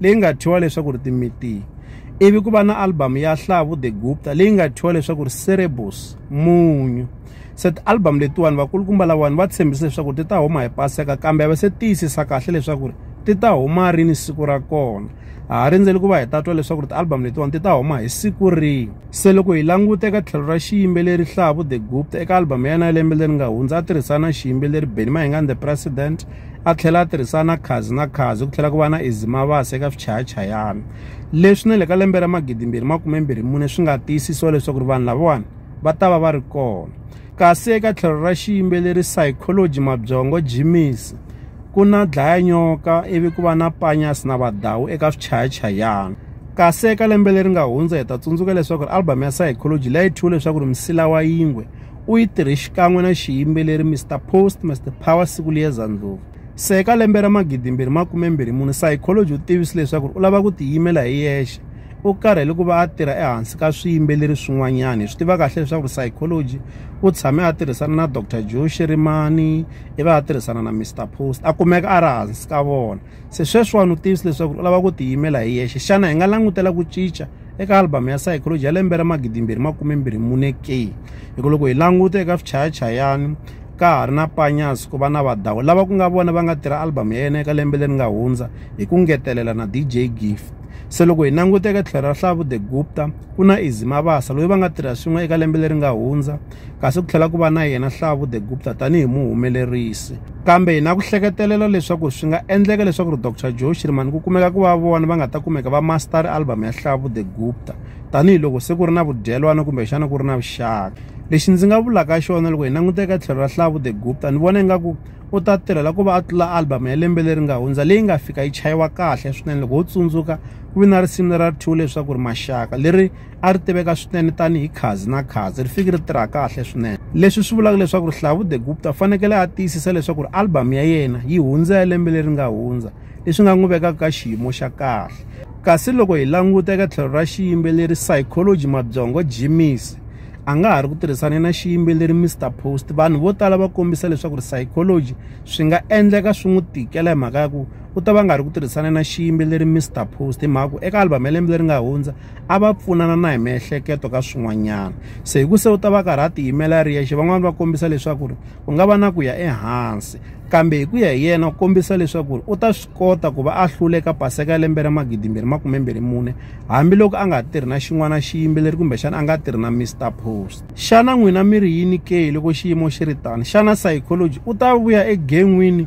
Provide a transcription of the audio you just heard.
leyi nga thyiwa leswaku ri timitiyi ivi ku va na album ya hlavu the gupta leyi nga thyiwa leswaku ri cerebus munyu se ti-album letiwani vakulukumba lawani va tshembise leswaku ti ta huma hi paseka kambe va se tiyisisa kahle leswaku ri ti ta huma rini siku ra kona ha ha rindzeli ku va hi tatwa leswaku ri ti-album letiwani ti ta huma hi siku rihi se loko hi languta eka tlhelo ra xiyimbeleri hlavu the gupta eka album ya yena ya lembe leri nga hundza a tirhisana na xiyimbeleri benny mahingani the president a tlhela a tirhisana khazi na khazi ku tlhela ku va na izimavasi eka swichayachayana leswi na le ka lembe ra magidimbirhi makumembirhi mune swi nga tiyisisiwa leswaku ri vanhu lavawani va ta va va ri kona kasi eka tlhelo ra xiyimbeleri psychology mabyongo jimisi ku na dlaya nyoka ivi ku va na panyasi na vadawu eka swichayachayana kasi eka lembe leri nga hundza hi ta tsundzuka leswaku ri album ya psychology leyi thyiwe leswaku ri misila wa yingwe u yi tirhe xikan'we na xiyimbeleri Mr Post Mr Power siku liyeza ndlhuvu se eka lembe ra magidimbirhi makumembirhi mune psychology u tivisi leswaku u lava ku tiyimela hi yexe u karhele ku va a tirha ehansi ka swiyimbeleri swin'wanyana hi swi tiva kahle leswaku ri psychology u tshame a tirhisana na dr joe shirimani i va a tirhisana na Mr Post a kumeka a ri hansi ka vona se sweswiwani u tivisi leswaku u lava ku tiyimela hi yexe xana hi nga langutela ku cinca eka album ya psychology ya lembe ra magidimbirhi makumembirhi mune ke hi ku loko hi languta eka swichayachayani ka ha ri na panyas ku va na vadawu lava ku nga vona va nga tirha album ya yena eka lembe leri nga hundza hi ku ngetelela na dj gift se loko hi languteka tlhelo ra hlavu the gupta ku na izimabasa loyi va nga tirha swin'we eka lembe leri nga hundza kasi ku tlhela ku va na yena Hlavu the Gupta tanihi muhumelerisi kambe hi na ku hleketelela leswaku swi nga endleka leswaku ri Dr Joe Shirimani ku kumeka ku va vona va nga ta kumeka va master album ya Hlavu the Gupta tanihiloko se ku ri na vudyelwana kumbe xana ku ri na vuxaka lexi ndzi nga vulaka xona loko hi languta eka tlhelo ra Hlavu the Gupta ni vona ingaku u ta tirhela ku va a tlula album ya lembe leri nga hundza leyi nga fika yi chayiwa kahle swinene loko ho tsundzuka ku vi na risimu lera two leswaku ri maxaka leri a ri tiveka swinene tanihi khazi na khazi ri fiki ri tirha kahle swinene leswi swi vulaka leswaku rihlavu the gupta u fanekele a tiyisisa leswaku ri album ya yena yi hundza ya lembe leri nga hundza leswi nga n'wi vekaka ka xiyimo xa kahle kasi loko hi languta eka tlhelo ra xiyimbeleri psychology mabyongo jimis a nga ha ri ku tirhisane na xiyimbeleri mr post vanhu vo tala va kombisa leswaku ri psychology swi nga endleka swi n'wi tikela hi mhaka ya ku u ta va nga ri ku tirhisana na xiyimbeleri mr post hi mhaka ku eka album ya lembe leri nga hundza a va pfunana na hi miehleketo ka swin'wanyana se hi ku se u ta va karhi a tiyimela ri yexe van'wani va kombisa leswaku ri ku nga va na ku ya ehansi kambe hi ku ya hi yena u kombisa leswaku ri u ta swi kota ku va a hluleka paseka ya lembe ra magidimbirhi makumembirhi mune hambiloko a nga tirhi na xin'wana xiyimbeleri kumbexana a nga tirhi na mr post xana n'wina mi ri yini ke loko xiyimo xi ri tani xana psychology u ta vuya egen'wini